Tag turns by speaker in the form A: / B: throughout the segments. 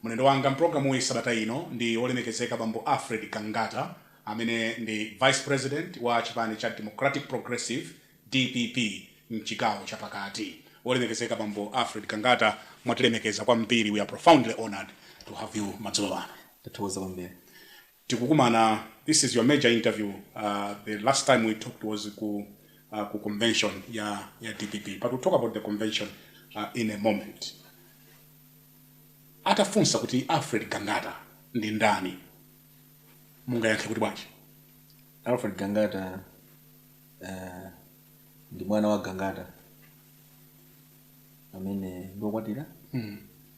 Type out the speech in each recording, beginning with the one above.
A: Mlendo wanga m'pulogalamuyi sabata ino ndi Wolemekezeka Bambo Alfred Gangata amene ndi Vice President wa chipani cha Democratic Progressive, dpp, m'chigawo cha pakati. Wolemekezeka Bambo Alfred Gangata, mwatilemekeza kwambiri, we are profoundly honoured to have you madzulo ano. Tathokoza kwambiri. tikukumana this is your major interview the last time we talked was ku ku convention ya ya dpp but we'll talk about the convention in a moment atafunsa kuti alfred gangata ndi ndani mungayankhe kuti bwanji alfred
B: gangata uh, ndi mwana wa gangata amene ndiokwatira mm.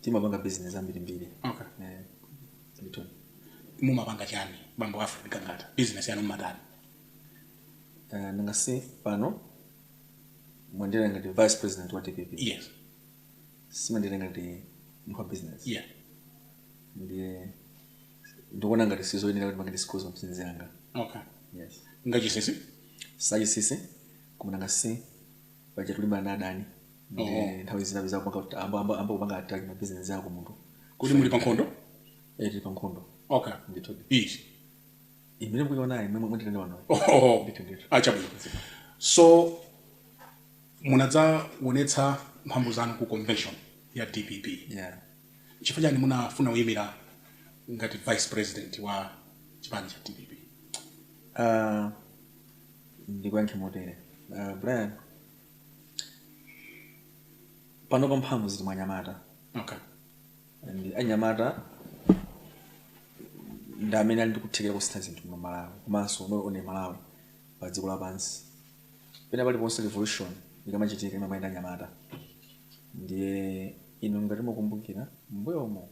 B: timapanga business zambirimbiri Okay.
A: eh ndithu mumapanga chani bambo alfred gangata business yanu mumatani Eh, nanga
B: si pano mwanditengera ngati vice president wa dpp yes simunanditengere ngati munthu wa business
A: yeah
B: ndiye ndikuona ngati sizoyenera kuti ndipange disclose business yanga okay
A: yes
B: nzachinsinsi
A: sizachinsinsi
B: koma nanga si paja tikulimbana na adani ndi Oho. nthawi zina umadziwa kupanga kuti amba amba amba kupanga attack ma business ako munthu kodi muli pa
A: nkhondo eh tili pa
B: nkhondo okay ndithu iti
A: imeneyo
B: mukuiona imene mwanditengera panoyo Oho. ndithu ndithu
A: chabwino so munadzaonetsa mphamvu zanu ku convention ya dpp
B: yeah chifukwa
A: chani munafuna kuyimira ngati vice president wa chipani cha dpp uh,
B: ndikuyankhe motere uh, brian panopa mphamvu zili mwa anyamata okay.
A: and
B: anyamata ndi amene ali ndi kuthekera kusintha zinthu mu malawi komanso osaona malawi pa dziko lapansi pena paliponse revolution ikamachitika imamayenda ndi anyamata ndiye inu ngati mukukumbukira m'mbuyomo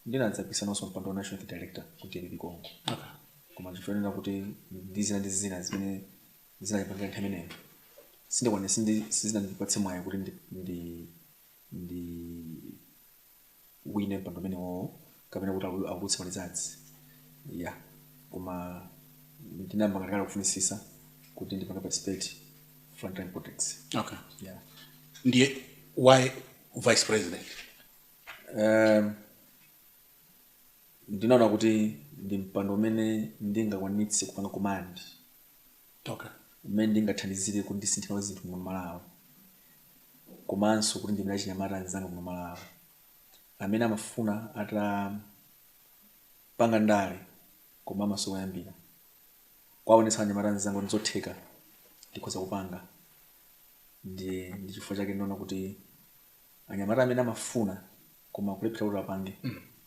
B: ndinadzapikisananso mpando wa national youth director ku dpp konko
A: koma chifukwa
B: chonena kuti ndi zina ndi zina zimene zinapangika nthawi imeneyo sindikwanira sindi- sizinandipatse mwayi kuti ndi, ndi, ndiwine mpando umenewowo kapena kuti awu- atulutse malizadzi ya koma ndinayamba ndakhala kufunisisa kuti ndipange participate frontline politics okay ya ndiye
A: why vice president
B: ndinaona kuti ndi mpando umene ndingakwanitse kupanga command
A: okay. umene
B: ndingathandizire kuti ndisinthire zinthu muno malawi komanso kuti ndiimire achinyamata anzanga muno malawi amene amafuna atapanga ndale koma amasowa koyambira kuwaonetsa anyamata anzanga kuti zotheka ndikhoza kupanga ndi ndi chifukwa chake ndinaona kuti anyamata amene amafuna koma akulephera kuti apange,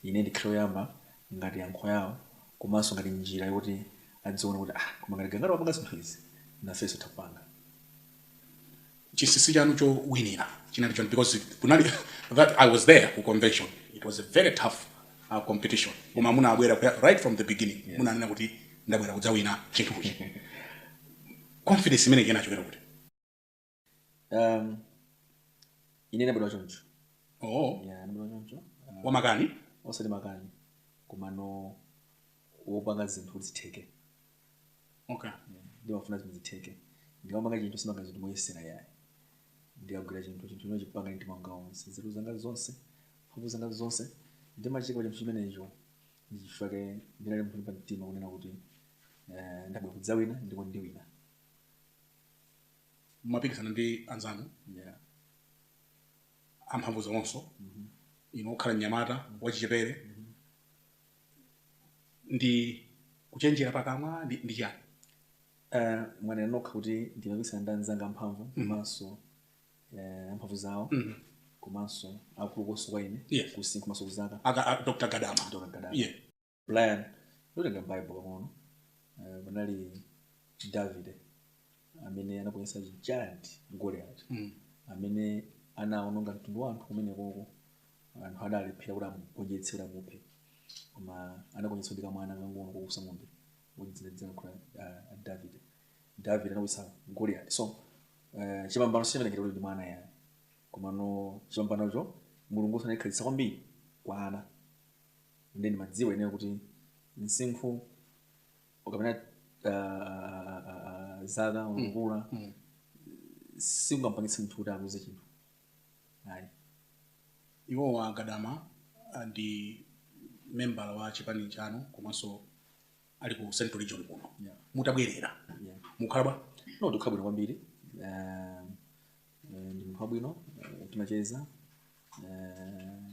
B: ine ndikhale oyamba ngati yankho lawo komanso ngati njira yoti adziona kuti ah koma ngati Gangata wapanga zinthu izi nafenso titha kupanga. Chinsinsi
A: chanu chowinira chinali chani because kunali that I was there ku convention it was a very tough competition koma munabwera right from the beginning munanena kuti ndabwera kudzawina chinthuchi confidence imeneyi inachokera kuti?
B: um, ine ndabadwa choncho oh
A: ya ndabadwa
B: choncho uh,
A: wamakani osati
B: makani komano wopanga zinthu kuti zitheke
A: okay ndimafuna
B: zinthu zitheke ndikamapanga chinthu sindimapanga zinthu moyesera yayi ndikagwira chinthu chinthu chimenecho ndimachipanga ndi moyo wanga wonse nzeru zanga zonse mphamvu zanga zonse ndimaziika pa chinthu chimenecho ndichifukwa chake ndinali nacho pa mtima kunena kuti eh, ndabwera kudzawina ndipo ndiwina
A: mumapikisana ndi
B: anzanu yeah.
A: amphamvu zawonso mm -hmm. inu okhala mnyamata mm -hmm. wachichepere mm -hmm. ndi kuchenjera pakamwa ndi, ndi chani uh, eh, mwanena nokha
B: kuti ndimapikisana ndi anzanga amphamvu mhm. komanso mm -hmm. uh, amphamvu zawo mm -hmm komanso akulunso kwa ine yes. kumsinkhu komanso kuzaka dr gadama
A: dr gadama yeah.
B: brian ukatenga bible pang'ono eh, panali davide amene anagonjetsa giant goliath Mm. amene anaononga mtundu wa anthu kumenekoko anthu adalephera kuti amugonjetse kuti amuphe koma anagonjetsedwa ndi kamwana kang'ono koweta ng'ombe wodziwika kuti davide davide anagonjetsa goliath so eh, chipambano sichimatengera kuti ndi mwana yayi komano chipambanocho mulungu amayikhazikitsa kwambiri kwa ana ndiye ndimadziwa ineyo kuti msinkhu kapena uh, zaka mm. ukulu mm. sikungampangitse munthu kuti aluze chinthu ayi
A: iwowa a gadama ah, ndi membala wa chipani chanu komanso ali ku central region kuno yeah. mutabwerera yeah. mukukhala bwanji no tikukhala bwino
B: kwambiri uh, ndi munthu wabwino uh, timacheza uh,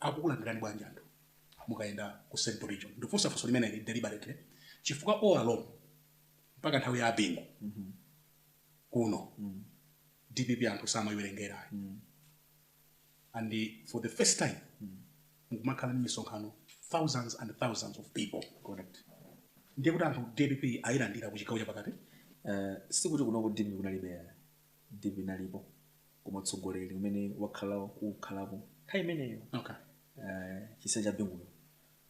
A: akukulandirani bwanji anthu mukayenda ku central region? Ndikufunsa funso limeneli deliberately chifukwa all along mpaka nthawi ya a Bingu kuno dpp anthu samaiwerengera ayi and for the first time mukumakhala ndi misonkhano thousands and thousands of people Correct.
B: ndiye kuti
A: anthu dpp ayilandira ku chigawo chapakati Eh, sikuti
B: kuno ku dpp kunalibe dpp inalipo koma utsogoleri umene wakhala ukukhalapo nthawi imeneyo okay eh, chisa cha binguyo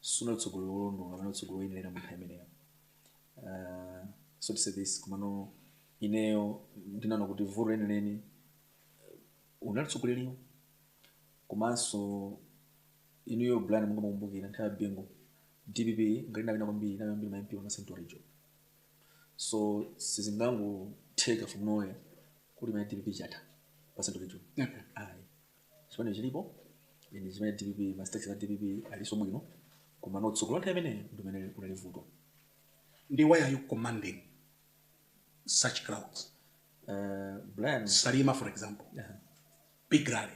B: sunali utsogoleri wolondola kapena utsogoleri woyenerera mu nthawi imeneyo Eh, so to say this komano ineyo ndinaona kuti vuto lenileni unali utsogoleri komanso inuyo brian mungamakumbukire nthawi ya bingu dpp ngati inapata kwambiri inapata kwambiri ma mp wa central region so sizingangotheka from nowhere kuti mwina dpp chatha pa central region ayi chipani chilipo ndi chimene dpp ma structures a dpp alinso bwino komano utsogoleri nthawi imeneyo ndi umene unali vuto
A: ndiye why are you commanding such crowds
B: Eh, brian salima
A: for example Aha. big rally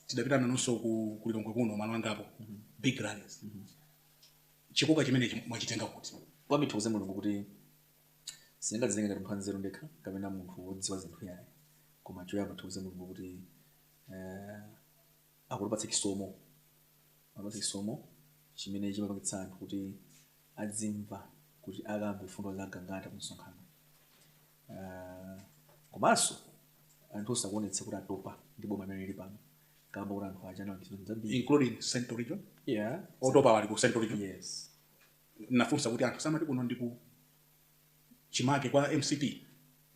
A: tidapita nanunso ku lilongwe kuno malo angapo big rallies chikoka chimenechi mwachitenga kuti? Koyamba ndithokoze Mulungu kuti
B: sindingadzitenge ngati munthu wanzeru ndekha kapena munthu wodziwa zinthu yayi, koma choyamba ndithokoze Mulungu kuti eh, akutipatsa chisomo akutipatsa chisomo chimene chimapangitsa anthu kuti adzimva kuti akamve mfundo za gangata ku msonkhano Ah, komanso anthunso akuonetsa kuti atopa ndi boma limene lili pano kamba kuti anthu aja anali zinthu zambiri including central region
A: yeah otopawo ali ku central region yes
B: ndafunsa
A: kuti anthu si amati kuno ndiku chimake kwa mcp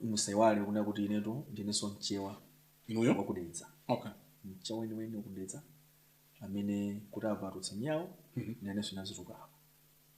B: musaiwale kunena kuti inetu ndinenso mchewa inuyo wa ku
A: dedza okay
B: mchewa weniweni wa ku dedza amene kuti avatutse nyau nanenso inazitukapa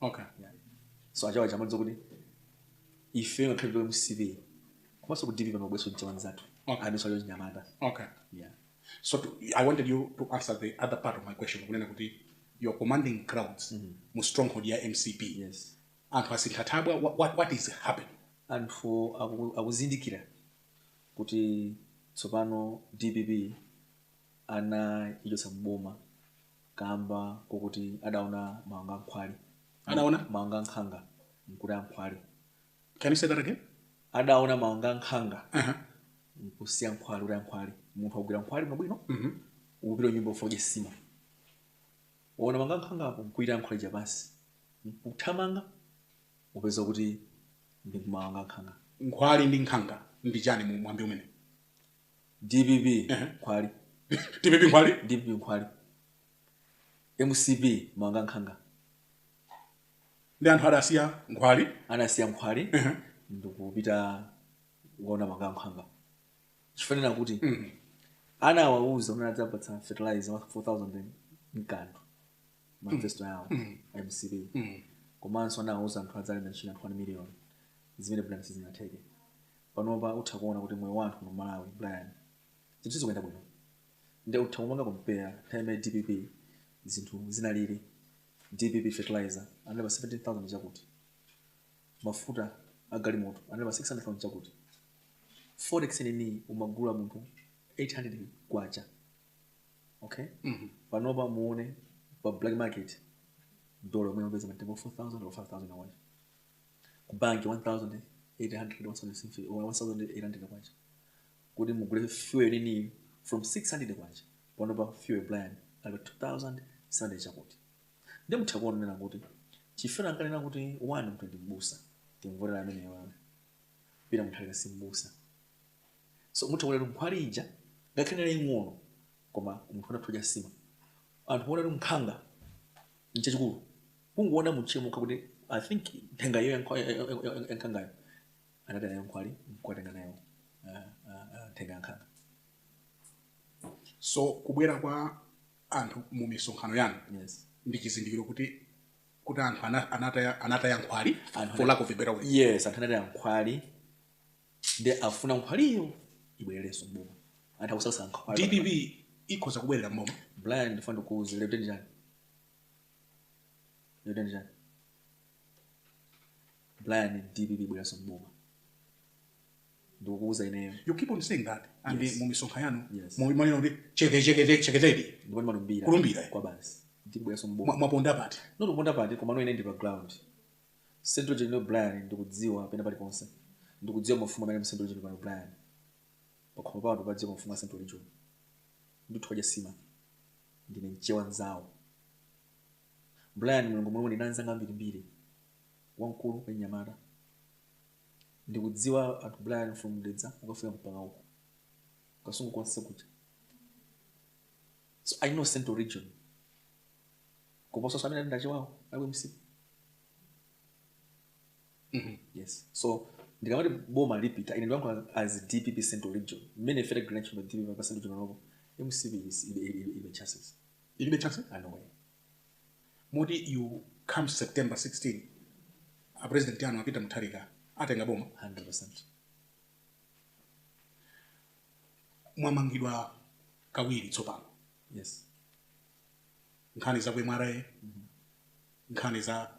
B: okay yeah. so achewa chamadza kuti ife ngakhale tili mcp komanso ku dpp panabweranso mchewa nzathu Okay. amenenso ali wachinyamata okay yeah.
A: so to, i wanted you to answer the other part of my question kunena kuti you're commanding crowds mu stronghold ya mcp yes
B: anthu asintha
A: thabwa wha- what, what is happening anthu
B: aku- akuzindikira kuti tsopano dpp anaichotsa mboma kamba kokuti adaona mawanga a nkhwali adaona
A: mawanga a
B: nkhanga mkutaya nkhwali can you say
A: that again adaona mawanga
B: a nkhanga uh -huh. mkusiya nkhwali kutaya nkhwali munthu wagwira nkhwali mwabwino mm -hmm. ukupita kunyumba ukadye nsima waona mawanga a nkhanga apo mkuitaya nkhwali ija pansi mkuthamanga upeza kuti ndi mawanga a nkhanga nkhwali ndi nkhanga
A: ndi chani mu mwambi umene
B: dpp nkhwali dpp
A: nkhwali dpp
B: nkhwali mcp mawanga a
A: nkhanga ndiye anthu adasiya nkhwali anasiya nkhwali
B: ndikupita kuona mawanga a nkhanga chifukwa kuti ana awauza kuti adzawapatsa fertilizer wa 4000 mkati mwa manifesto yawo a mcp komanso anawauza anthu adzalemba ntchito 1 million zimene brian sizinatheke panopa utha kuona kuti moyo wa anthu kuno mmalawi brian zinthu sizikuyenda bwino nde utha kupanga compare nthawi ya dpp zinthu zinalili dpp fertilizer anali pa 17000 chakuti mafuta a galimoto anali pa 600000 chakuti forex yi umagula munthu 800 kwacha okay panopa muone pa black market dola umene upeza matengo 4000 or 5000 kwacha ku banki 1800 1800 kwacha kuti mugule fuel nini from 600 kwacha panopa fuel brian ali pa 2700 chakuti nde mutha kuona kuti chifukwa ankanena kuti one mtu ndi mbusa timvotera amene uyu peter mutharika si mbusa so mutha kuonera nkhwali ija ngakhale inali ing'ono koma munthu anatha kudya nsima anthu poona kuti nkhanga nchachikulu kungoona mtchire mokha kuti i think nthenga iyo yankhangayo anataya nayo nkhwali nkukatenga nthenga yankhanga
A: so kubwera kwa anthu mu misonkhano yanu yes ndi chizindikiro
B: kuti
A: kuti anthu anataya nkhwali for lack of a better word yes anthu anataya
B: nkhwali ndi afuna nkhwaliyo ibwererenso mboma anthu akusakasa nkhwali dpp ikhoza
A: kubwerera mboma brian ndifuna ndikuuze
B: lero kuti ndani yotani chani brian dpp ibwereranso mboma ndikukuuza ineyo you keep on saying that
A: and Yes. mu misonkhano yanu Yes. mu- mwanena kuti
B: cheke
A: cheke cheke cheke cheke ndipo ndimalumbira
B: Kulumbira. kwa
A: basi dpp
B: ibwereranso mboma Mwa- mwaponda pati no
A: taponda pati koma no
B: ine ndili pa ground central region brian ndikudziwa pena paliponse ndikudziwa mafumu amene mu central region brian pakhomo pano padziwa mafumu a central region ndithu kudya nsima ndine mchewa nzawo brian mulungu mulungu ndili ndi anzanga ambirimbiri akuluakulu anyamata ndikudziwa anthu brian from dedza kukafika mpaka uko kasungu konse kuja so i know central region kuposa so amene ali ndachewawo ali msiku mm-hmm. yes so ndikamati boma likupita ine ndikulankhula as dpp central region mmene ife tagwira ntchito dpp pa central region lomwe mcp ilibe chances ilibe chances ah, no way moti
A: you come september 16 a president anu a peter mutharika atenga boma 100 mwamangidwa kawiri tsopano yes nkhani za ku mra mm-hmm. nkhani za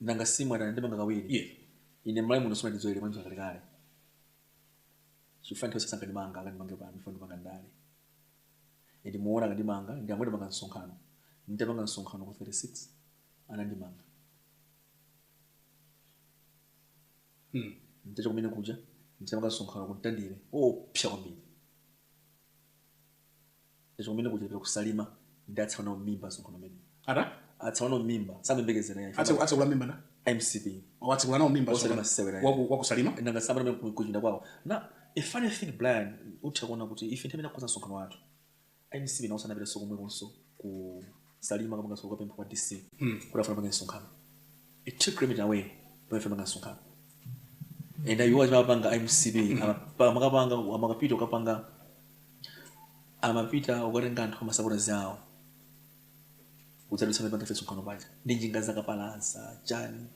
B: nanga si mwati anandimanga kawiri yeah. ine m'Malawi muno sunandizoyere mwanjira kalekale chifukwa nthawi zonse ankandimanga akandimange pano chifukwa ndimapanga ndale and muona akandimanga ndi pomwe ndimapanga msonkhano nditapanga msonkhano ku 36 anandimanga hmm. nditachoka kumene kuja nditapanga msonkhano ku Mtandire oopsa kwambiri Nditachoka kumene kuja kusalima ndi atsekula nawo m'mimba msonkhano umenewu. Ata? Atsekula nawo m'mimba samayembekezera yayi. Atse atsekula m'mimba
A: ndani? Mcp. O
B: atsekula nawo m'mimba
A: Osati msonkhano masewera yayi. waku wakusalima. Nanga samanena
B: pamene kuchipinda kwawo. And a funny thing Brian utha kuona kuti ife nthawi imene takonza msonkhano wathu. A mcp nawonso anapitanso komwekonso ku salima kama kasoka pempha kwa dc mm. kuti afuna apange msonkhano two kilometre away pamene timapanga msonkhano and iwo amapanga mcp mm. amakapanga amakapita ukapanga amapita ukatenga anthu amasapota zawo udzadutsa timapanga ife msonkhano paja ndi njinga zakapalasa chani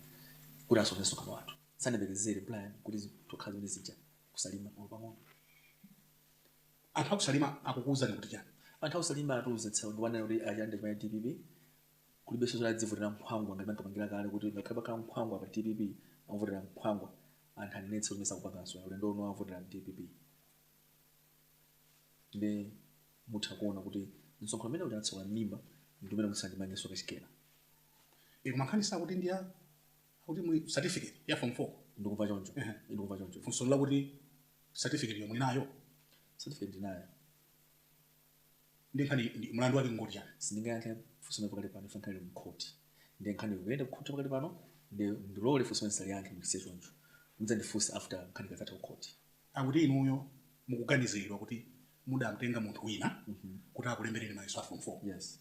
B: kuti asokoneze msonkhano wathu sanayembekezere Brian kuti tokhala zimene zija kusalima pang'ono
A: Anthu aku Salima akukuuzani kuti chani? Anthu aku Salima
B: atiuza tsiku lina kuti a Chande chipani dpp kulibenso zoti azivotera nkhwangwa ngati ankapangira kale kuti ngakhale pakhale nkhwangwa pa dpp akuvotera nkhwangwa anthu anenetsa kuti zimenezo sakupanganso ayi ulendo uno avotera dpp ndiye mutha kuona kuti msonkhano umene uja atsekula m'mimba ndi umene musandimangenso kachikena Inu
A: mankhani zakuti ndi a akuti mulibe certificate ya form 4 ndikuva choncho
B: Ehe. ndikuva choncho funso ndi
A: lakuti certificate yo muli nayo certificate ndinayo
B: ndi
A: nkhani ndi- mlandu wake ngoti chani sindingayankhe funso
B: limeneli pakali pano chifukwa nkhani ili mkhoti ndi nkhani ikuyenda kukhoti pakali pano ndiye mundilole funso limeneli ndisaliyankhe ndilisiye choncho mudzandifunse after nkhani ikadzatha kukhoti akuti inuyo
A: mukuganiziridwa kuti mudamtenga munthu wina kuti akulembereni mayeso a form 4 yes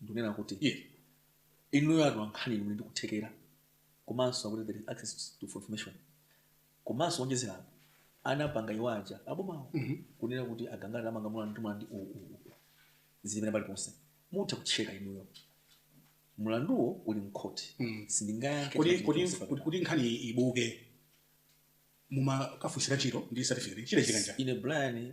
B: ndikunena kuti
A: iye
B: inuyo atolankhani muli ndi kuthekera komanso akuti there is access to information komanso kuonjezera apo anapanga iwo aja abomawo kunena kuti a Gangata tawamanga mulandu ndi mulandu uwu uwu uwu. zimene paliponse mutha kucheka inuyo mulanduwo uli mkhoti sindingayankhe kodi chinthu kodi chilichonse kuti- kuti
A: nkhani ibuke mumakafunsira ntchito ndi certificate chile chikanja ine brian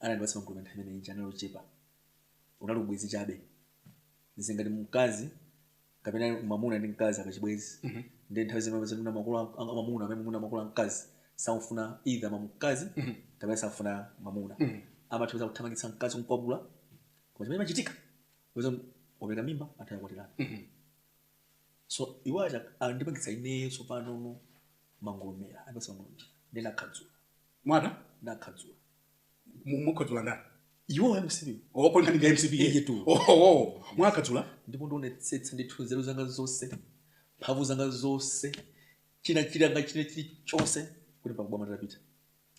B: anandipatsa magulu nthawi imene ija anali ochepa unali ubwenzi chabe zili ngati mkazi kapena mwamuna ndi mkazi ali pachibwenzi ndi nthawi zimene pamene mwina makolo a- a- mwamuna amene mwina makolo a mkazi samufuna either mamkazi kapena samufuna mwamuna amakhoza kuthamangitsa mkazi kumkwapula koma chimene chimachitika pamene wapereka mimba amatha kukwatirana so iwo aja andipangitsa ineyo tsopano no mangolomera andipangitsa mangolomera ndi nakhadzula
A: mwata nakhadzula
B: Mu-
A: mukhadzula ndani iwo ya mcp
B: opo nkhani nga mcp
A: Eyetu. oho
B: mwakhadzula
A: ndipo
B: ndionetsetsa ndithu nzeru zanga zonse mphamvu zanga zonse china chilanga china chilichonse kuti pakubwama nditapita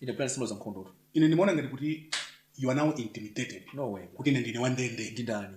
B: ine brian simalo za nkhondotu ine ndimaona ngati kuti
A: you are now intimidated no way kuti ine ndine
B: wandende
A: ndi ndani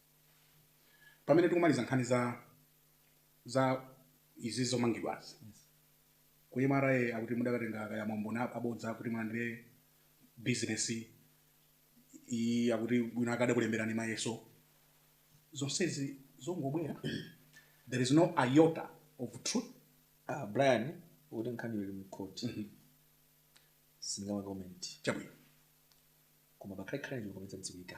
A: pamene tikumaliza nkhani za za izi zomangidwazi ku mra akuti mudakatenga kaya maumboni ab- abodza kuti mulandire bizinesi iyi akuti wina akadakulemberani mayeso zonsezi zongobwera there is no iota of truth Ah,
B: brian poti nkhani ili mkhoti sindingama comment chabwino koma pakhale khala chikometsa dziwika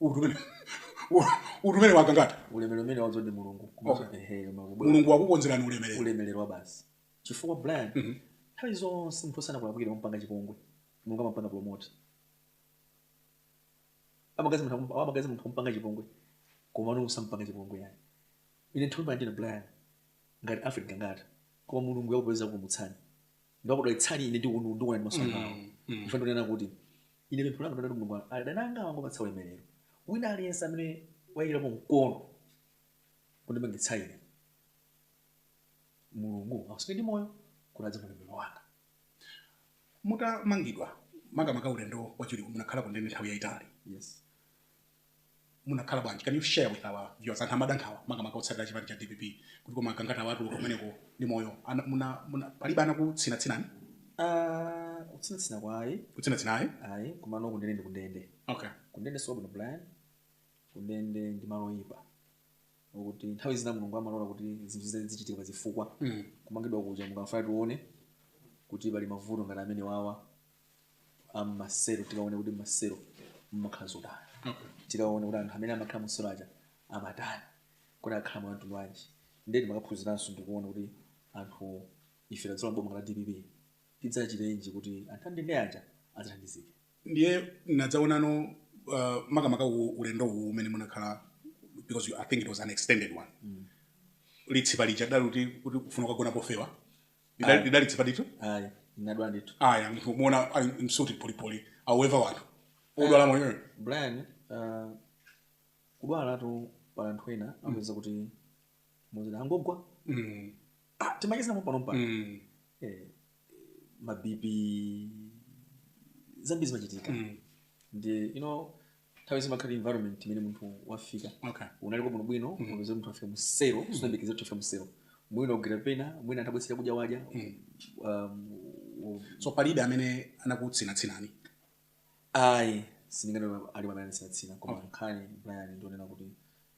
B: Utu
A: umene- u- utu umene wa gangata ulemerero umene wazo
B: ndi mulungu komanso Okay. ehe, koma kubwera
A: mulungu wakukonzerani ulemerero ulemerero wa basi
B: chifukwa brian Mhm. nthawi zonse munthu osanakulakwira amapanga chipongwe mulungu amapanga promote amagazi munthu akum- amagazi munthu ampanga chipongwe koma mulungu sampanga chipongwe ayi ine nthawi imene ndina brian ngati alfred gangata koma mulungu yakupeza kumutsani ndi kudalitsani ine ndi unu ndikuona ndi maso angawa Mm, mm. ife ndinena kuti Ine pemphero langa ndi loti Mulungu adani anga angowapatsa ulemelero wina aliyense amene wayikirapo mkono kundimangitsa ine Mulungu awasunge ndi moyo kuti adzaone ulemelero wanga.
A: Mutamangidwa makamaka ulendo wachiwiriwu munakhala kundende nthawi yayitali. Yes. munakhala bwanji? Can you share with our viewers? Anthu amada nkhawa makamaka otsatira chipani cha dpp kuti koma Gangata atuluka kumeneko ndi moyo. Ana- muna- muna- Palibe anakutsinatsinani?
B: Ah, kutsinatsina kwa ayi Kutsinatsina ayi?
A: ayi
B: komano kundende ndi kundende Okay. kundende si
A: kwabwino brian
B: kundende ndi malo oyipa kuti nthawi zina mulungu amalola kuti zinthu zina zichitike pa zifukwa Mm. kumangidwa kuja ankafuna tione kuti pali mavuto ngati amenewawa a mmaselo tikaone kuti mmaselo mumakhala zotani Okay. tikaone kuti anthu amene amakhala mmaselo aja amatani kuti akhala mwa mtundu wanji ndiye timakaphunziranso ndikuona kuti anthu ife tikadzalowa mboma la dpp tidzachitenji kuti anthu andende aja adzathandizike ndiye tinadzaonano
A: uh, makamaka u- ulendo uwu umene munakhala because you, i think it was an extended one mm. litsipa lija lidali kuti kuti kufuna kukagona pofewa Lidali- Ayi. lidali tsipa ndithu ayi ndinadwala
B: ndithu aya munthu kumuona
A: ali msuti polipoli however wanthu odwala moyo brian uh,
B: kudwalatu pa anthu ena amapeza kuti muzina angogwa mm. ah, timachezana pompano pompano mm. eh, ma BP zambiri zimachitika mm. ndi you know nthawi zimakhala environment imene munthu wafika okay. unaliko bwinobwino mm. unapeza munthu afika mu selo mm. sunayembekeza kuti afika mu selo mwina ugwira pena mwina atabweretsera kudya wadya mm. um,
A: um, so palibe amene anakutsinatsinani
B: ayi sindingati alipo amene anatsinatsina koma nkhani brian ndi yonena kuti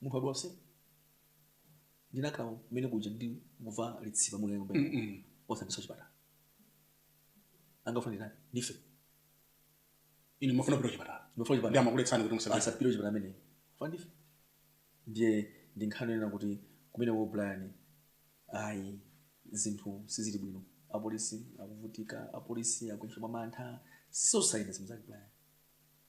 B: munthu wadwala se ndinakhala kumene kuja ndikumva litsipa mu nyumba osandiso chipatala amafuna ndani ndife ine mafuna kupita chipatala mafuna chipatala ndi amakuletsani kuti musapite asapite chipatala amene amafuna ndife ndiye ndi nkhani yonena kuti kumene wo Brian ayi zinthu sizili bwino apolisi akuvutika apolisi akuifa mwamantha zosayenda zimenezo Brian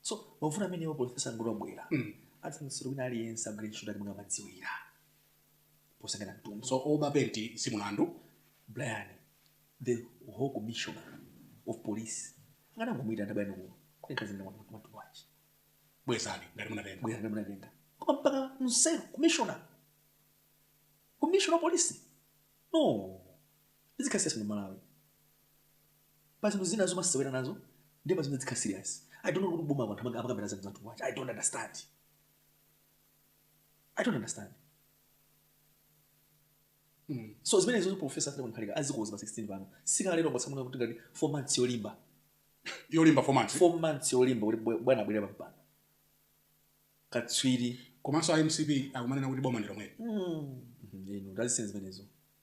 B: so mavuto amenewo profesa angobwera mm. atulutsidwa wina aliyense agwire ntchito mmene amadziwira posayang'ana mtundu so oba penti si mulandu brian the whole commissioner of police akanangomuitana bwino kuno kunekazinamatubwachi bwezani ngati munatenga bwezani ngati munatenga koma mpaka mu selo commissioner commissioner of police no tizikhala serious mu malawi pa zinthu zina zomasewera nazo ndiye pa zinthu tizikhala serious i don't know kuti boma anthu amaka- amakambira zinthu zathu kwacha i don't understand i don't understand Mm. so zimene izo professor Peter Mutharika azikoza pa 16 pano sikalero kwatsamuna kuti ngati 4 months yolimba yolimba 4 months 4 months yolimba kuti bwe- bwana abwere pampando katswiri komanso a mcp akumanena kuti boma ndilomweli ino ndazisene zimenezo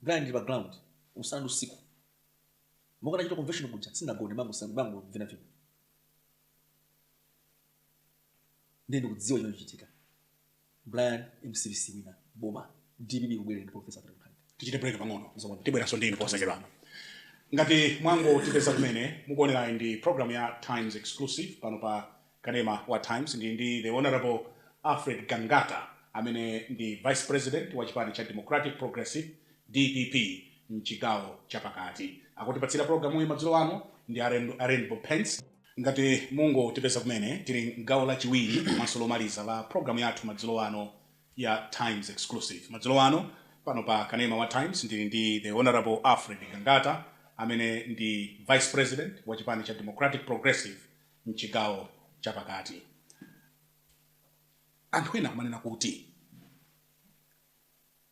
B: Brian ndili pa ground usana ndi usiku monga ndachitira convention kuja sindinagone ndimangovina vina ndiye ndikudziwa chimene chikuchitika Brian mcp siwina boma dpp ikubwerera ndi professor Peter Mutharika. tichite break pang'ono
A: Zomwe. tibweranso ndi inu posachedwa ngati mwangotipeza kumene mukuonerayi ndi program ya times exclusive pano pa Kanema wa Times ndili ndi The Hon Alfred Gangata amene ndi Vice President wa chipani cha Democratic Progressive, dpp, m'chigawo cha pakati. Akutipatsira pulogalamuyi madzulo ano ndi a Rainbow Paints. Ngati mungotipeza kumene, tili m'gawo lachiwiri komanso lomaliza la pulogalamu yathu madzulo ano ya Times Exclusive. Madzulo ano, pano pa Kanema wa Times ndili ndi The Hon Alfred Gangata amene ndi Vice President wa chipani cha Democratic Progressive, m'chigawo chapakati. Anthu ena akumanena kuti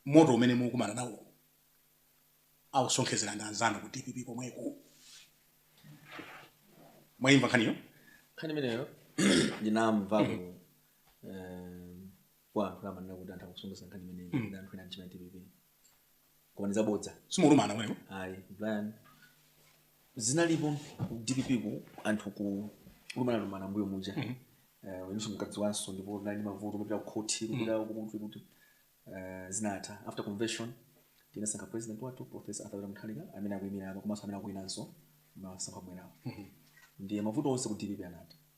A: moto umene mukumana nawo akusonkhezera ndi anzanu ku dpp komweko. Mwayimva nkhaniyo? nkhani
B: imeneyo ndinamva ku eh, kwa anthu amanena kuti anthu akusonkhezera nkhani imeneyi ndi anthu ena mchipani dpp koma ndi zabodza simulumana
A: mweyo ayi
B: Brian zinalipo ku dpp ku anthu kulumanalumana mmbuyo muja Eh, iwenso ukudziwanso ndipo tinali ndi mavuto kupita ku khoti kupita kuti kuti eh, zinatha after convention tinasankha president wathu professor arthur peter mutharika amene akuyimira apa komanso amene akuwinanso masankho akubwerawo ndiye mavuto onse ku dpp anatha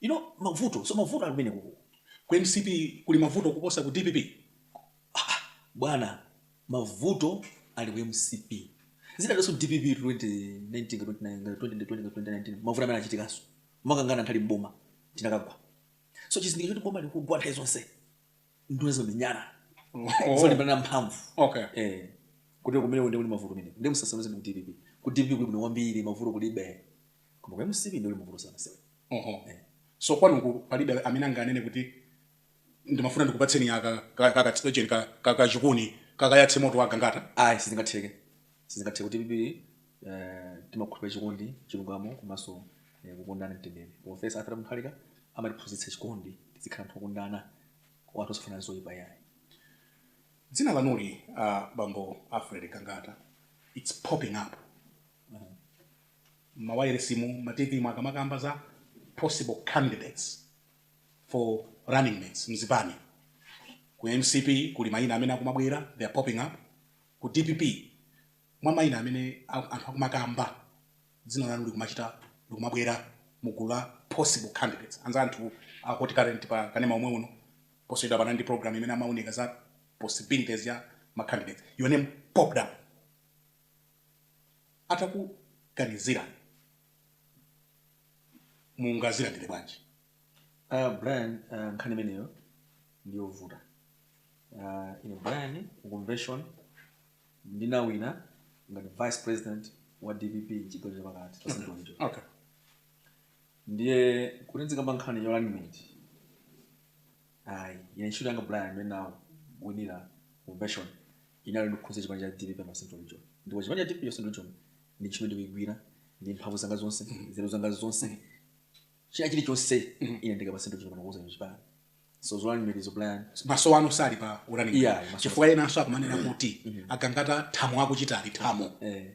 B: You know mavuto so mavuto ali kumeneko ku ku
A: mcp kuli mavuto kuposa ku dpp aa
B: bwana mavuto ali ku mcp zidalinso dpp 2019 mavuto amene anachitikaso timakangana tili mboma tinakagwa so chizindikiro choti boma likugwa nthawi zonse nduna zomenyana Oh. zolimbana mphamvu okay Eh, kuti kumene ndi kuli mavuto mene ndi musasakanize ndi dpp ku dpp kuli bwino kwambiri mavuto kulibe koma ku mcp ndi kuli mavuto sana sewe oho
A: so kwanuku palibe amene anganene kuti ndimafuna ndikupatseni aka kakachitocheni kakachikuni kakayatse moto wa gangata ayi sizingatheke
B: Sizingatheke ku dpp timakhulupirira chikondi chilungamo komanso kukondana mtendere professor arthur mutharika amatiphunzitsa chikondi tizikhala anthu okondana anthu osafunirana zoipa yayi.
A: Dzina lanuli a bambo Alfred Gangata its popping up mmawayilesimu mma TV mu akamakamba za possible candidates for runningmates mzipani ku mcp kuli mayina amene akumabwera they are popping up Ku dpp mwa maina amene anthu akumakamba dzina lanu likumachita likumabwera mu gulu la possible candidates, anzathu a hot current pa kanema omwe uno, posachedwapa anali ndi program imene amaunika za possibilities ya ma candidates, your name popped up. Atakuganizirani mungazilandire bwanji? Uh,
B: Brian, uh, nkhani imeneyo ndiyovuta. Uh, ine Brian ku convention ndinawina ngati vice president wa DPP chigawo chapakati. Okay.
A: Ndiye
B: kuti nzikamba nkhani ya running mate. Ayi, ine ntchito yanga Brian imene ndinawinira convention inali ndi kukuza chipani cha DPP pa Central Region. Ndipo chipani cha DPP cha Central Region ndi ntchito ndikuigwira ndi mphamvu zanga zonse, nzeru zanga zonse, china chilichonse mm. ine ndi ka pa central region pano kukuza chipani so zo running mate zo brian maso wanu sali
A: pa u running mate yeah, chifukwa ena anso akumanena mm. kuti mm -hmm. a gangata thamo akuchitali thamo eh.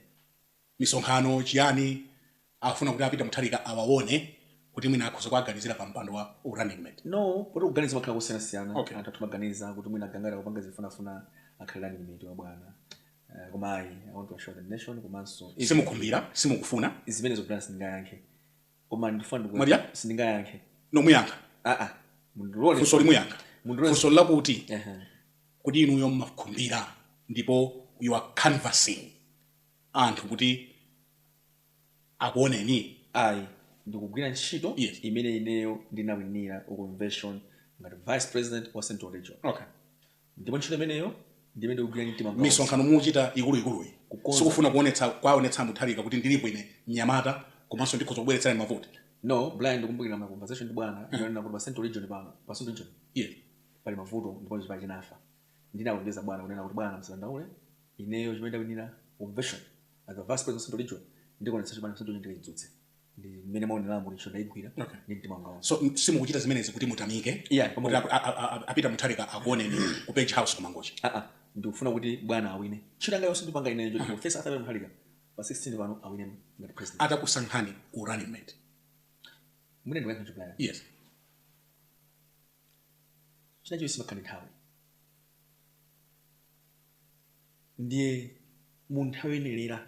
A: misonkhano chiyani afuna kuti a peter muthalika awawone kuti mwina akhoza kuaganizira pa mpando wa u running mate no poti kuganiza
B: makhala kusiyanasiyana okay. anthu atha kumaganiza kuti mwina a gangata akupanga zofunafuna akhale running mate wa bwana eh, koma ayi i want to assure the nation komanso simukhumbira
A: simukufuna zimene zo brian sindingayankhe
B: koma ndifuna ndiku- Brian sindingayankhe no
A: muyankha Ah, ah.
B: Mundilole. funso ili
A: muyankha Mundilole. funso lakuti Ehe. kuti inuyo mmakhumbira ndipo you are canvassing anthu kuti akuoneni ayi
B: ndikugwira ntchito Yes. imene ineyo ndinawinira ku convention ngati vice president wa central region okay ndipo ntchito imeneyo ndi imene ndikugwira ndi mtima wanga wonse. misonkhano
A: muchita ikuluikuluyi Kukonza. sikufuna kuonetsa kwaonetsa mutharika kuti ndilipo ine mnyamata komanso ndikhoza kubweretserani mavoti no brian ndikumbukira
B: ma conversation ndi bwana ndinanena kuti pa central region pano pa central region yeah. pali mavuto ndipo chipani chinafa ndinalonjeza bwana kunena kuti bwana musadandaule ineyo mmene ndawinira convention as a vice president of central region ndikuonetsetsa chipani cha central region ndikaidzutse ndi mmene mwaonera yanga ntchito ndaigwira ndi mtima wanga wonse so m- simukuchita
A: zimenezi kuti mutamike Yeah. kuti ap- a- a- a- a peter mutharika akuoneni ku page house kumangochi aa ndikufuna kuti
B: bwana awine ntchito yanga yonse ndipanga ine njoti profesa arthur peter muthalika pa 16 pano awine ngati president atakusankhani
A: u running
B: mate mmene ndakuyankhira brian yes chinachilichonse chimakhala ndi nthawi ndiye mu nthawi yoyenelera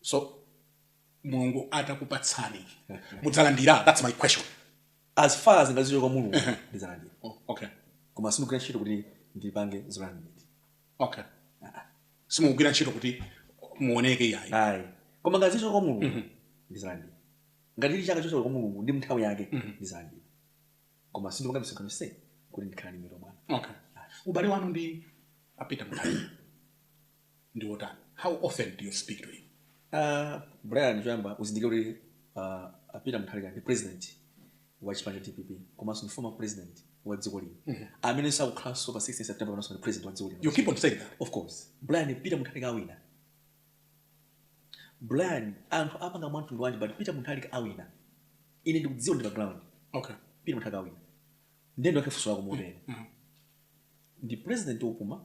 A: so mulungu atakupatsani mudzalandira that's my question as far
B: as nzochoka kwa mulungu ndidzalandira oh, okay
A: koma sindigwira ntchito
B: kuti ndipange zolandira okay
A: simugwira ntchito kuti muoneke iyayi ayi koma
B: nzochoka kwa mulungu mhm. ndidzalandira ngati chili chochoka kwa mulungu ndi nthawi yake mhm. ndidzalandira koma sindipanga misonkhano nse kuti ndikhale running mate wa bwana okay ubale
A: wanu ndi a peter muthali ndi wotani how often do you speak to him uh,
B: brian choyamba uzindikire kuti uh, a peter muthalika ndi president wa chipani cha dpp komanso ndi former president wa dziko lino mm -hmm. amene akukhalanso pa 16 september komanso ndi president wa dziko lino you keep on saying that of
A: course
B: brian peter muthalika awina brian anthu apanga mwamtundu wanji but peter muthalika awina ine ndikudziwa ndi pa ground okay peter muthalika
A: awina
B: ndiye ndiyankhe funso lako motere ndi president opuma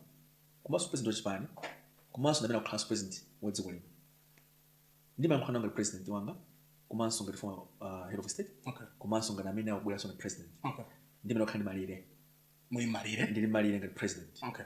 B: komanso president wa chipani komanso ndamene akukhalanso president wa dziko lino ndimayankhula nawo ngati president wanga komanso ngati former uh, head of state Okay. komanso ngati
A: amene
B: akubweranso ngati president Okay. ndiye mumakhala
A: ndi malire
B: Muli malire.
A: ndili malire ngati president
B: Okay.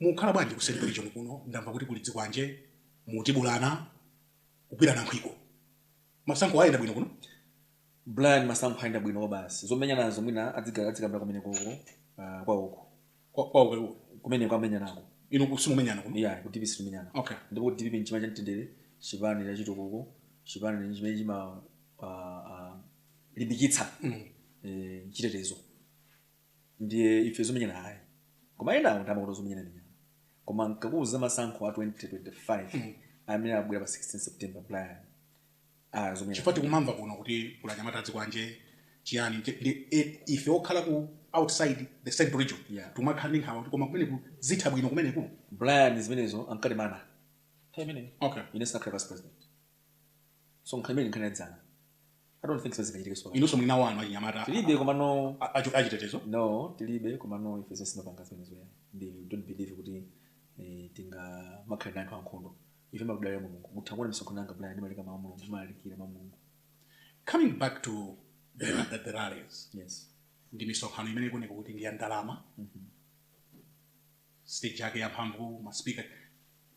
A: Mukukhala bwanji ku Central Region kuno ndamva kuti kuli zikwanje, mutibulana, kugwirana nkhwiko. Masankho ayenda bwino kuno? Brian
B: masankho ayenda bwino kwabasi. Zomenyanazo mwina adzika adzikambira kumeneko uko uh, kwa uko. Kwa kwa uko
A: uko. Kumene
B: kwamenyanako. Inu kusimumenyana
A: kuno? Yeah, ku DPP sitimenyana.
B: Okay. Ndipo DPP
A: nchipani
B: cha mtendere, chipani cha chitukuko, chipani chimene chima uh, uh, limbikitsa mm. eh, chitetezo. ndiye ife zomenyana ayi koma enawo ndi amakonda zomenyana ndi nyama koma tikakuuza za masankho a 2025 amene abwera pa 16 september brian ah, zomenyana chifukwa tikumamva kuno
A: kuti kuli anyamata azikwanje chiyani nje- ndi e- ife okhala ku outside the central region Yeah. timakhala ndi nkhawa kuti koma kumeneku zitha bwino kumeneku brian zimenezo
B: ankatinena nthawi imeneyo okay ine ndisanakhale
A: vice president
B: so nkhani imene nkhani yadzana I don't think so zingachitike so. inunso muli nawo anu
A: achinyamata Tilibe komano
B: a- achi- achitetezo
A: no
B: tilibe komano ife sitimapanga zimenezo ayi ndi we don't believe kuti eh, tingamakhala ndi anthu ankhondo ife timadalira mulungu mutha kuona misonkhano yanga Brian ndimalika mawu a mulungu ndimalalikira mawu a mulungu
A: coming back to the, the, the rallies yes
B: ndi
A: misonkhano imene ikuoneka kuti ndi ya ndalama stage yake ya mphamvu maspika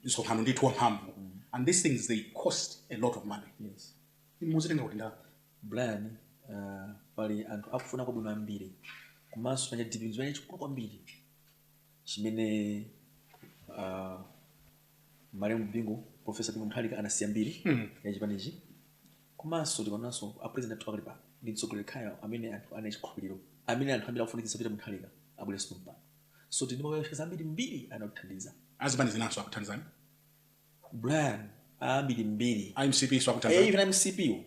A: misonkhano ndithu ya mphamvu and these things they cost a lot of money yes inu mukuzitenga kuti ndalama brian
B: uh, pali anthu akufuna kwabwino ambiri komanso panja DPP ndi chimene chikulu kwambiri chimene uh, malemu bingu profesa bingu muthalika anasiya mbiri mm. ya chipanichi komanso tikaonanso apresident athu apakali pano ndi mtsogoleri yekhayo amene anthu ali nacho chikhulupiriro amene anthu ambiri akufunitsitsa pita muthalika abwerenso pompano so tili ndi ma well-wishers ambirimbiri amene akuthandiza azipani zinanso
A: akuthandizani
B: Brian ambirimbiri a mcp nso akuthandizani eh
A: even mcp
B: wo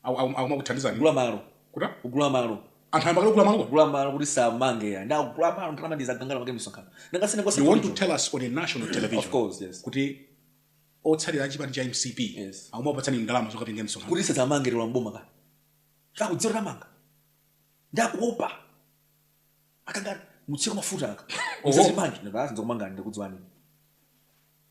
B: Aku- aku-
A: akumakuthandizani kugula malo
B: kutani kugula malo anthu ayamba kale kugula malo
A: kugula malo kuti asadzamangidwe ya nde
B: kugula malo ndalama ndi izi gangata kapange
A: misonkhano nanga
B: si ine kwa
A: you want to
B: sikucho tell
A: us on a
B: national
A: television course yes
B: kuti
A: otsatira achipani cha mcp Yes.
B: akumakupatsani ndalama
A: zokapangira msonkhano kuti musazawamange mukalowa
B: mboma ka kakudzera tamanga ndakuopa akanga mutsiko mafuta aka Oho. musazandimange ndadzidza kumanga ndikudziwani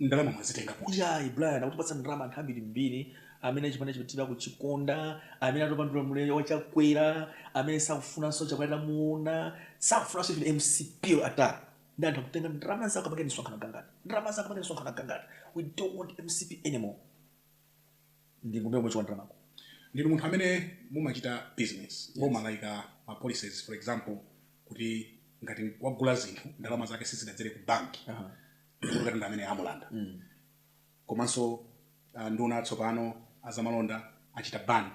A: ndalama mwazitenga kuti ayi brian
B: akutipatsa ndalama anthu ambirimbiri amene chipani cha Peter akuchikonda amene atopa ndi ulamuliro wachakwera amene sakufunanso chakwera tamuona sakufunanso even mcp ata ndi anthu akuti tenga ndalama uzikapanga misonkhano Gangata ndalama zako amake nisonkhano gangati we don't want mcp anymore ndiye nkumene tikuthandizikako ndinu munthu
A: amene mumachita business boma laika ma policies for example kuti ngati wagula zinthu ndalama zake sizidadzere ku banki Aha. Ndipo katundu amene amulanda komanso ah, nduna atsopano azamalonda achita ban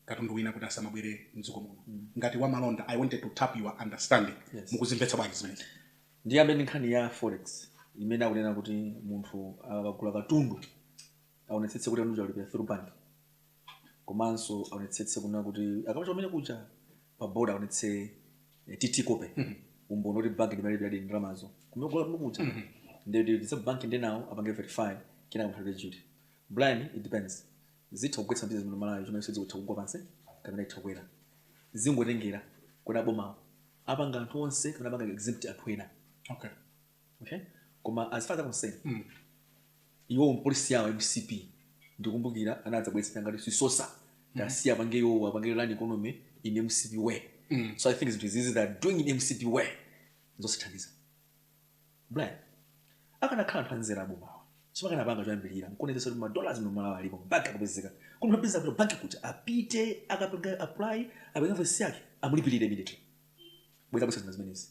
A: katundu wina kuti asamabwere mdziko muno ngati wamalonda i wanted to tap your understanding Yes. mukuzimvetsa bwanji zimenezi ndiyambe ndi nkhani
B: ya forex imene akunena kuti munthu akagula katundu aonetsetse kuti katundu alipira through bank komanso aonetsetse kuna kuti akapita kumene kuja pa border aonetse eh, tt copy umboni kuti banki ndimene yalipiradi ndalamazo kumene kugula kumene kuja ndidza banki ndinawo apange verify kenaka munthu alipire duty blind it depends zitha kugwetsa bizinesi muno malawi chomwe sidziwa itha kugwa pansi kapena itha kukwera zingotengera kuti abomawo apanga anthu onse kapena apanga exempt anthu ena okay okay koma as far as I'm concerned mm. iwo policy yawo mcp ndikumbukira anadzabwezera ngati sisosa mm. tasiya mm. apange iwowo apange run economy in mcp way mm. so i think zinthu izizi that are doing in mcp way zosithandiza blan akanakhala anthu anzera abomawa chimakanapanga choyambirira nkuonetsetsa kuti madollars muno malawi alipo banki akapezeka kuti mapeza kuti banki kuti apite akapanga apply apanga invoice yake amulipirire immediately bwenzi akubweretsa zina zimenezi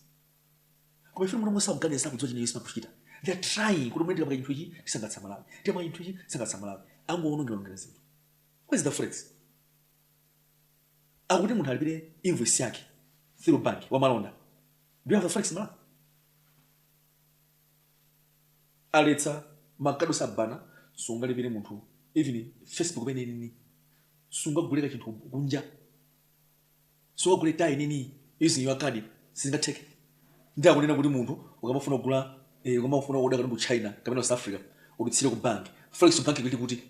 B: koma ife mulungu sakuganizira kudziwa chimene chimene akuchita they are trying kuti mwina tikapanga chinthu ichi tisangalatsa amalawi tikapanga chinthu ichi tisangalatsa amalawi angowonongerawonongera zinthu where's the forex akuti munthu alipire invoice yake through bank wa malonda do you have the forex malawi aletsa makadi tsopano sungalipire munthu even facebook panini sungagule ka chinthu kunja sungagule tinini using your card sizingatheke nde akunena kuti munthu ukamafuna kugula eh, ukamafuna kuoda katundu China kapena ku south africa udutsire ku bank forex bank ili kuti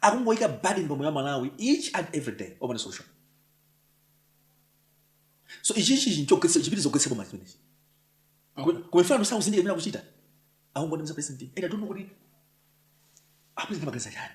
B: akungoyika burden pamoyo wa amalawi each and every day opanda solution so ichichi chinchogwetsa chipitiliza kugwetsa boma chimenechi komanso sakuzindikira zimene akuchita akungoti mza president i don't know kuti apresident amaganiza chani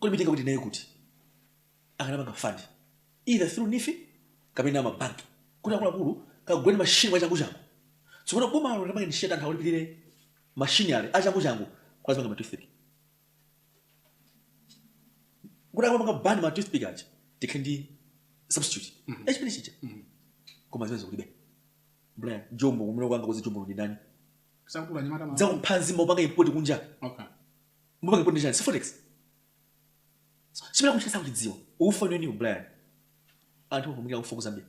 B: kodi chinatenga kuti naye kuti akanapanga fund either through neef kapena mabanki kuti akuluakulu kaguleni mashini mwachanguchangu tsopano bomalo linapanga initiate anthu akulipirire mashini aja mwachanguchangu kuti azipanga matoothpick kuti akamapanga ban matoothpick aja tikhale ndi substitute yachimene chija koma zimenezo kulibe bra jombo amene akupanga produce jombo ndi ndani Sakhala anyamata
A: ma. dzakuphanzi amapanga import
B: kunja Okay. simupanga import njani forex chimene chikuchititsa kuchidziwa ufa nanu a Brian anthu akumulira ufa kuzambia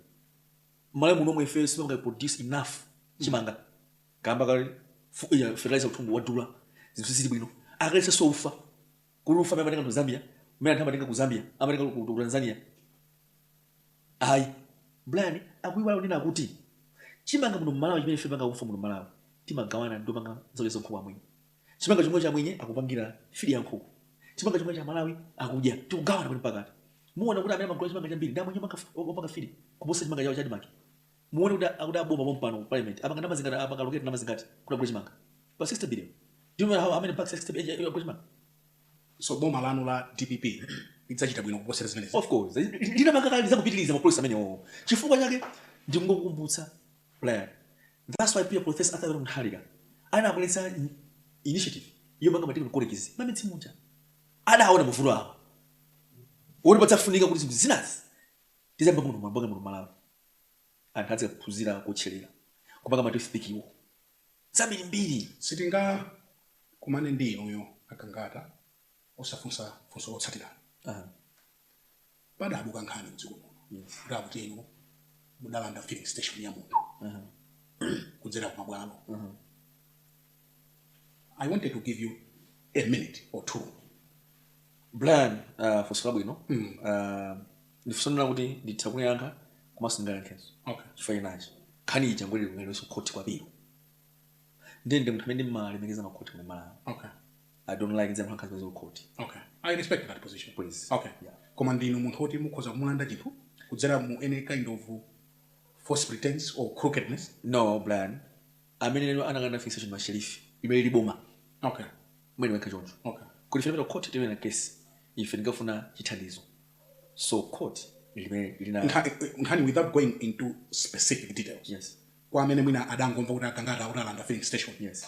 B: mmalawi muno momwe ifeyo sipanga produce enough chimanga kamba kakuti fu- iya, fertilizer mtundu wadula zinthu zili bwino a Congress so ufa kuli ufa amene amatenga ku zambia umene anthu amatenga ku zambia amatenga ku ku tanzania ayi brian akuiwala kunena kuti chimanga muno mmalawi chimene ife panga ufa muno mmalawi timagawana ndi opanga zakudya za nkhuku amwenye chimanga chomwecho amwenye akupangira fidi ya nkhuku chimanga chomwecho amalawi akudya tikugawana pano pakati muone kuti amene amagula chimanga chambiri ndi amwenye amanga- opanga fidi kuposa chimanga chawo cha admarc muone kuti akuti aboma pompano parliament apanga ndalama zingati apanga allocate ndalama zingati kuti agule chimanga pa 60 billion do you know how how many bags 60 billion agule chimanga so
A: boma lanu la dpp lidzachita bwino kuposera zimenezi of course ndinakamba
B: kale lidzapitiriza mapolisi amenewo chifukwa chake ndingokukumbutsa brian That's why HE Professor Arthur Peter Mutharika anabweretsa initiative yomanga ma technical colleges mmamidzi muja. Adaona mavuto awa oti padzafunika kuti zinthu zinazi tiziyamba muno muno kupanga muno Malawi. Anthu azikaphunzira kuwotcherera, kupanga ma toothpick wo. Zambirimbiri.
A: Sitingakumane ndi inuyo a Gangata osafunsa funso lotsatirali. padabuka nkhani mdziko muno kuti akuti inu mudalanda filling station ya munthu kudzera ku mabwalo i wanted to give you a minute or two
B: brian uh, funso labwino mm. uh, ndifuna ndione kuti nditha kuyiyankha komanso sindingayankhenso okay chifukwa chani nkhani ija inabwereranso ku khoti kwa apilo ndiye ndine munthu amene ndimalemekeza makhoti a malawi okay
A: i don't like
B: nkhani za kukhoti okay i
A: respect that position Please. okay
B: Yeah. koma
A: ndinu munthu woti mukhoza kumulanda chinthu kudzera mu any kind of false pretense or crookedness no brian
B: amene analanda filling station masherifi imene ili boma
A: okay mwina wekha
B: choncho okay kuti tapita
A: court
B: tawina case ife ngati ofuna chithandizo so court limene lina Nkha- nkhani without
A: going into specific details yes kwa amene
B: mwina
A: adangomva kuti agangata akuti adalanda filling station yes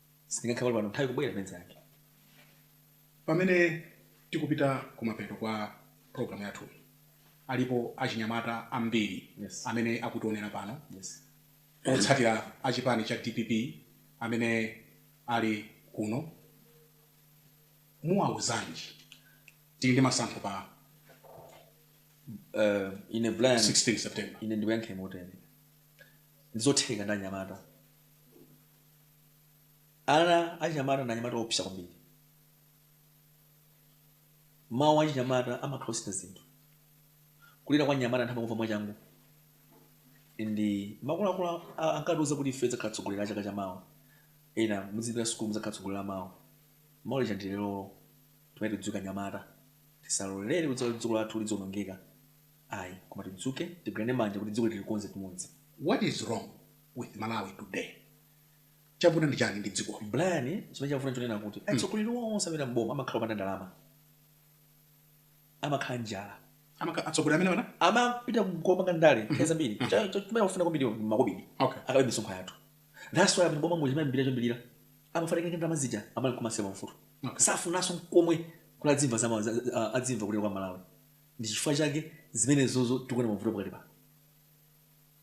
B: sindingayankhe pano nthawi ikubwera imene ili
A: yake pamene tikupita kumapeto kwa programu yathu alipo achinyamata ambiri Yes. amene akutionera
B: pano
A: yes
B: otsatira
A: achipani cha dpp amene ali kuno muwauzanji tili ndi masankho pa
B: uh, ine brian 16 september ine
A: ndikuyankhe motere
B: ndizotheka ndi anyamata Ana achinyamata ndi anyamata oopsa kwambiri. Mawu a achinyamata amatha kusintha zinthu. Kulira kwa mnyamata anthu amakumva mwachangu. And akuluakulu ankatiuza kuti ife tidzakhala atsogoleri a chaka cha mawa. Inu mudzipita sukulu mudzakhala atsogoleri a mawa. Mawa lija ndi lerolo. Tiyeni tidzuke anyamata. Tisalolere kuti dziko lathu lidzionongeka. Ayi, koma tidzuke, tigwirane manja kuti dziko ili tilikonze pamodzi. What is wrong
A: with malawi today chavuta ndi chani ndi dzikoli brian chimene
B: chavuta nchonena kuti hmm. atsogoleri onse amalowa mboma amakhala opanda ndalama amakhala ndi njala atsogoleri amene
A: amapita kupanga
B: ndale hmm. nthawi zambiri hmm. chimene akufuna kwambiri makobidi akabe misonkho yathu that's why amene m'bomamu chimene ambiri achombirira amafunika ndi ndalama zija amali kumasema mfuti safunanso nkomwe kuti adzimva adzimva kulira kwa amalawi ndi chifukwa chake zimenezozo tikuona mavuto pakali pano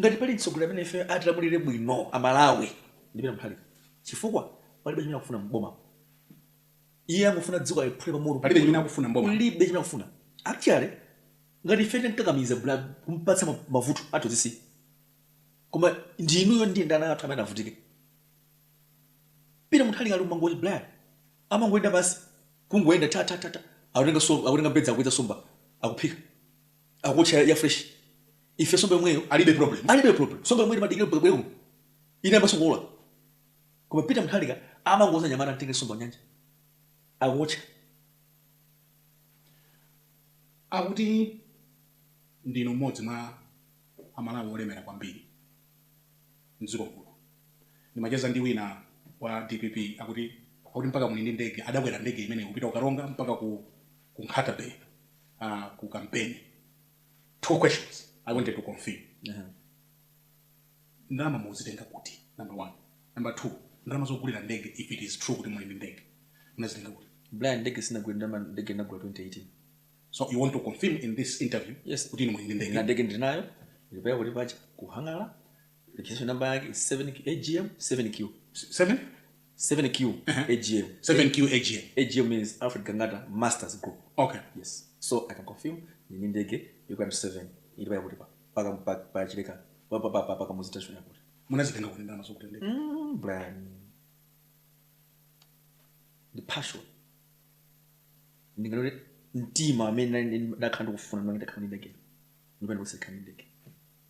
B: Ngati pali mtsogoleri amene ifeyo atilamulire bwino a Malawi ndi Peter Mutharika chifukwa palibe chimene akufuna m'bomamu. Iye angofuna dziko aliphule pamoto. Palibe chimene akufuna m'boma.
A: Palibe chimene akufuna.
B: Actually ngati ife titamkakamiza Brian kumpatsa mavuto athu azisiya. Koma ndi inuyo ndi ndi ana athu amene avutike. Peter Mutharika ali ku Mangochi Brian. Amangoyenda basi. Kungoyenda ta ta ta ta. Akutenga so akutenga mbedza akuwedza somba akuphika. Akuotcha ya fresh. Ife somba yomweyo alibe problem alibe
A: problem somba yomweyo timadikira mpaka ibwere
B: kuno inayambanso kuola koma Peter Mutharika amangouza anyamata mtenge somba kunyanja akuotcha
A: Akuti ndinu mmodzi mwa a Malawi olemera kwambiri mdziko muno. Ndimacheza ndi wina wa dpp akuti akuti mpaka muli ndi ndege adakwera ndege imeneyi kupita ku Karonga mpaka ku ku Nkhata Bay ah, ku kampeni. two questions i wanted to confirm Aha. ndalama mumazitenga kuti number one number two ndalama zogulira ndege if it is true kuti muli ndi ndege munazitenga kuti brian ndege
B: sinagula lero ndege ndinagula 2018 so you
A: want to confirm in this interview Yes. kuti inu muli ndi ndege na
B: ndege
A: ndinayo
B: ndi pa airport apa ku hangar Registration number yake is 7 AGM 7Q. 7 7Q uh-huh. AGM. 7Q
A: AGM. AGM means
B: Alfred Gangata Masters Group. Okay. Yes. So
A: I can
B: confirm ndili ndi ndege you can ascertain ili pa airport pa ka mpaka pa chileka papa papa paka muzita shona kuti. Munazitenga kuti ndalama
A: zogulira ndege.
B: Mm, Brian. The passion. Ndi galore mtima amene ndakhala ndikufuna nditakhala ndi ndege. Ndipenda kusekhala ndi ndege.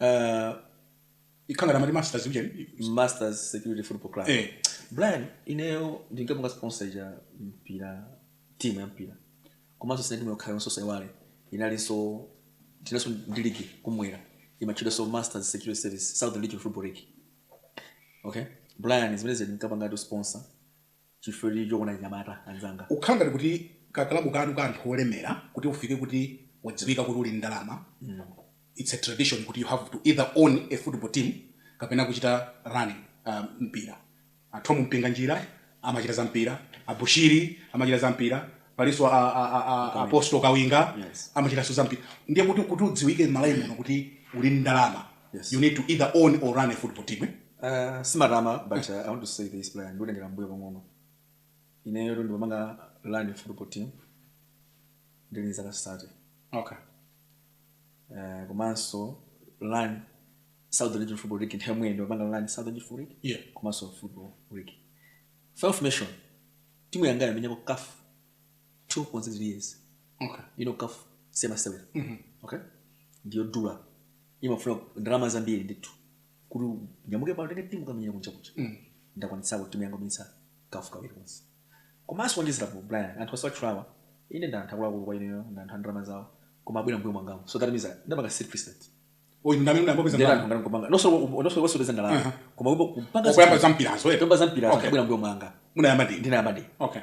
A: uh, ikhanga tamati masters ujeni masters
B: security football club eh brian ineyo ndinkapanga sponsor za mpira timu ya mpira komanso si timu yokhayonso musaiwale inalinso tinalinso ndi ligi kummwera imatchedwanso masters security service southern region football league okay brian zimenezi ndinkapangatu sponsor Chifukwa chokonda anyamata anzanga. Ukhala ngati
A: kuti ka club kanu ka anthu olemera kuti ufike kuti wadziwika kuti uli ndi ndalama it's a tradition kuti you have to either own a football team kapena kuchita run mpira. A Thom Mpinganjira amachita za mpira, a Bushiri amachita za mpira, palinso a Apostle Kawinga amachitanso za mpira. Ndiye kuti kuti udziwike m'Malawi muno kuti uli ndi ndalama Yes. You need to either own or run a football team. Eh? Uh, simatama
B: but uh, I want to say this player ndikutengera mbuyo pang'ono ineyo ndimapanga run a football team ndili zaka sate okay.
A: uh,
B: komanso run southern region football league nthawi imweyo ndimapanga run southern region football league yeah. komanso football league five nation timu yanga yamenyako kafu two point zero years okay you know CAF si masewera mm-hmm. okay ndi yodula imafuna ndalama zambiri ndithu kuti unyamuke pano utenge timu kukamenyera kunja kuja mm. ndakwanitsapo timu yanga kumenyetsa CAF kawiri konse komanso kuwonjezerapo brian anthu mwatchulawa ine ndanthu akuluakulu kwa ineyo ndanthu a ndalama zawo koma abwera mbuyo mwangamu so that means ndapanga set precedent not only zopeza ndalama koma kupanga zampirazo kupanga
A: zampirazo
B: abwera mbuyo mwanga ndinayamba
A: ndine okay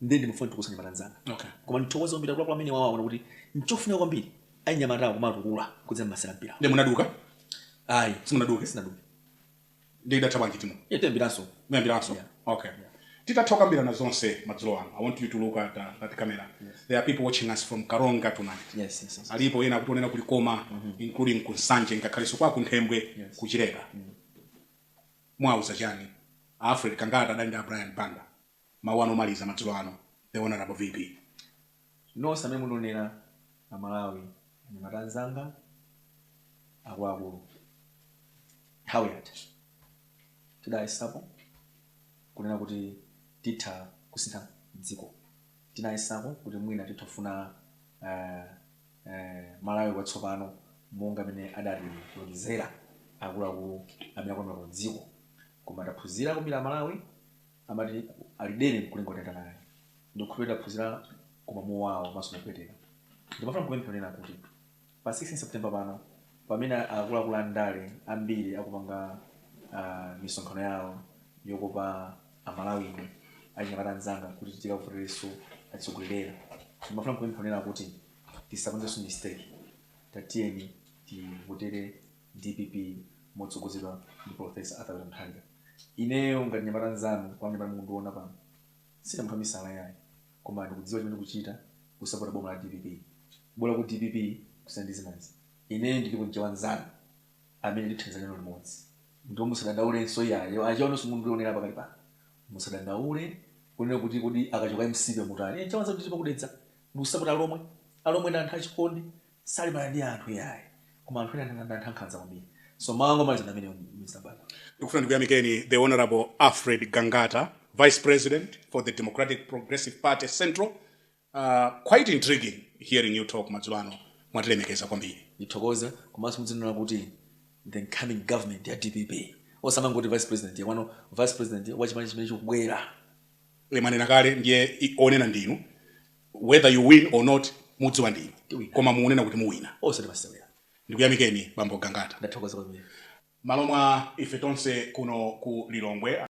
B: ndiye ndimafuna ndithokoze anyamata anzanga Okay. koma ndithokoze
A: kwambiri
B: akuluakulu amene awona kuti nchofunika kwambiri anyamatawa kuwatukula kudzera mmasewera a mpira nde munaduka
A: ayi
B: simunaduke sinaduke
A: nde idatha bwanji timu yatemberaso muyambiranso
B: Yeah. okay
A: titatha kukambirana zonse madzulo ano i want you to look at, uh, at camera there are people watching us from karonga tonight yes yes yes alipo
B: ena akutionera ku
A: likoma including ku nsanje ngakhalenso kwa kunthembwe Yes. ku chileka muwauza chani alfred gangata adali ndi a brian banda Mawu anu omaliza madzulo ano The Honourable VP.
B: Nonse amene mukundiwonera a Malawi, anyamata anzanga, akuluakulu. Nthawi yatha. Tidayesapo kunena kuti titha kusintha dziko. Tinayesapo kuti mwina titha kufuna Malawi watsopano monga mmene adatilonjezera akuluakulu amene akulamulira dziko. Koma taphunzira kwambiri a Malawi. amati ali dere nkulinga utayenda naye ndikukhulupirira taphunzira koma mowawa komanso mopweteka ndimafuna kupempha kunena kuti pa 16 september pano pamene akuluakulu a ndale ambiri akupanga ah, misonkhano yawo yokopa amalawi ndi achinyamata anzanga kuti tikawavoterenso atsogoleriwa ndimafuna kupempha kunena kuti tisapangenso mistake tatiyeni tivotere Dpp motsogozedwa ndi Polofesa Arthur Peter Mutharika. Ineyo ngati mnyamata nzanu pamene mukundiona pano, sine munthu wamisala yayi koma ndikudziwa chimene ndikuchita kusapota boma la dpp. Bola ku dpp kusiyana ndi zinazi. Ineyo ndiliko mchewa nzanu amene ndithandiza nanu limodzi. Ndipo musadandaulenso iyayi, achewa nonse mukundionera pakadali pano musadandaule kunena kuti kodi akachoka mcp mutani. Ine mchewa nzanu ndilipo ku Dedza ndikusapota alomwe. Alomwe ndi anthu achikondi salimbana ndi anthu yayi koma anthu ena ndi anthu ankhanza kwambiri so mawu anga omaliza ndi amenewo mr banda ndikufuna
A: ndikuyamikeni the honorable alfred gangata vice president for the democratic progressive party central uh, quite intriguing hearing you talk madzulo ano mwatilemekeza kwambiri ndithokoze
B: komanso mudzinena kuti the incoming government ya dpp osamangoti vice president wapano vice president wa chipani chimene chikubwera timanena
A: kale ndiye i- onena ndinu Whether you win or not mudziwa ndi inu Tiwina. koma mukunena kuti muwina. osati masewera.
B: Ndikuyamikeni
A: bambo Gangata. Ndathokoza kwambiri. Mmalo mwa ife tonse kuno ku Lilongwe.